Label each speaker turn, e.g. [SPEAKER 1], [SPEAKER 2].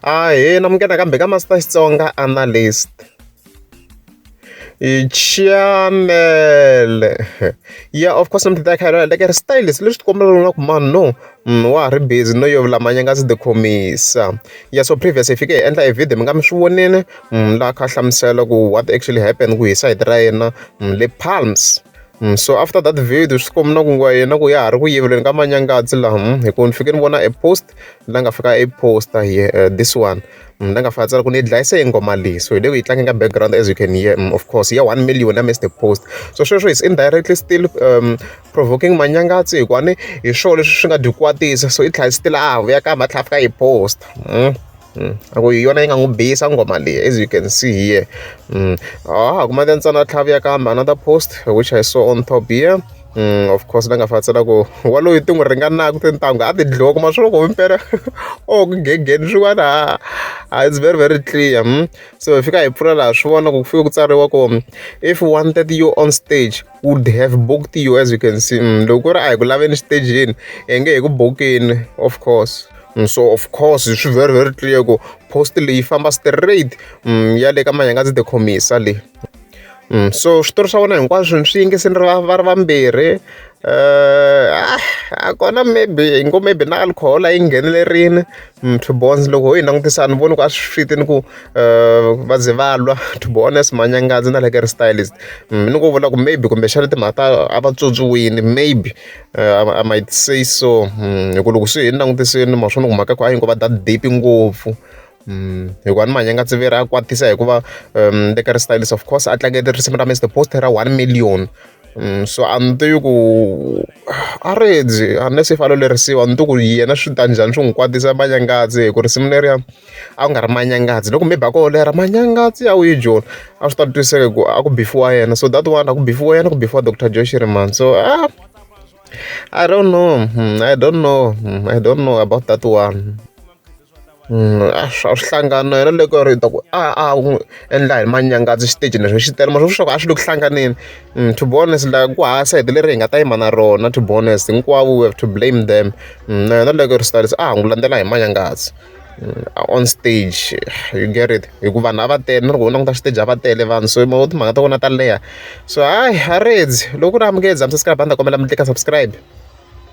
[SPEAKER 1] Ahee na munghana kambe ka Master Xitsonga Analyst. Chanele ya of course ni ta kha ni like style leswi swi kombela na ku mani no wa ha ri busy no yevula manyanga a ndzi ti khomisa ya so previous hi fike hi endla e video mi nga mi swi vonile laha kha a hlamusela ku what actually happened ku hi side ra yena le Palms. Hmm, so after that video swi komi na ku nga yena ku ya ha ri ku yiveleni ka manyangadzi laha hmm, hikuva ni fike ni vona a post la nga fika a poster here uh, this one hmm, la nga fika tsala ku ni yi dlayise hi ngoma leyi so hi le ku yi tlangi ka background as you can hear um, of course ya one million ya missed post so sweswo is indirectly still um, provoking manyangadzi hikuva ni hi swona leswi swi nga dyi kwatisa so i tlhela still a ha vuya ka mhatlha a fika hi post mm. a ku hi yona yi nga n'wi bihisa nghoma leyi as you can see here ha ha kuma ntsana tlhavuya kambe another post which i saw on top here Mm, of course la nga fatsela ku waloyi ti n'wi ringanaka tintangu a ti dliwa kuma swi loko mpela o ku gegeni swin'wana ha ha it's very very clear mm? so hi fika hi pfula laha swi vona ku ku fike ku tsariwa ku if wanted you on stage would have booked you as you can see mm, loko ku ri a hi ku laveni xitejini hi nge hi ku bokeni of course mm, so of course swi very very clear ku post leyi famba straight mm, ya le ka manyangadzi the commisa leyi mm, so switori swa vona hinkwaswo swi yingisini ri va ri vambirhi um uh, a kona maybe hi ngo maybe na alcohol a yi nghenelerini Mm, two bonds loko ho yi langutisa ni voni ku a swi fiti ni ku eh, va ze va lwa to be honest manyangazi na like ri stylist mm, ni ku vula ku maybe kumbexana timhaka ta a va tswotswiwini maybe uh, i might say so mm, hi ku loko swi hi ni langutisini ma swona ku mhaka ku a yi ngo va that deep ngopfu hikuva ni manyanga tsiviri a kwatisa hikuva um le ka ri stylist of course a tlangete risimu ra mr post ra one million Mm, so a ni tivi ku a redzi unless i falo lerisiwa ni ti ku yena swi ta njhani swi n'wi kwatisa manyangatsi hi ku risimu leriya a ku nga ri manyangatsi loko maybe a ko lera manyangatsi ya wuyi joni a swi ta twiseka ku a ku bifiwa yena so that one a ku bifiwa yena ku bifiwa doctor joe shiriman so ah I don't know. Hmm, I don't know. Hmm, I don't know about that one. a swi hlangani na yona leyi ku ri hi ta ku a a n'wi endla hi manyangazi xiteji leswi xi tele mara swi vula leswaku a swi le ku hlanganeni to be honest la ku hava sayiti leri hi nga ta yima na rona to be honest hinkwavo we have to blame them na yona leyi ku ri Sibaliso a ha n'wi landzela hi manyangazi on stage you get it hi ku vanhu a va tele na loko u languta xiteji a va tele vanhu so mavona timhaka ta vona ta leha so hayi ha redzi loko ku ri amukela Zamisa Skrabha a ni ta kombela mi teka subscribe.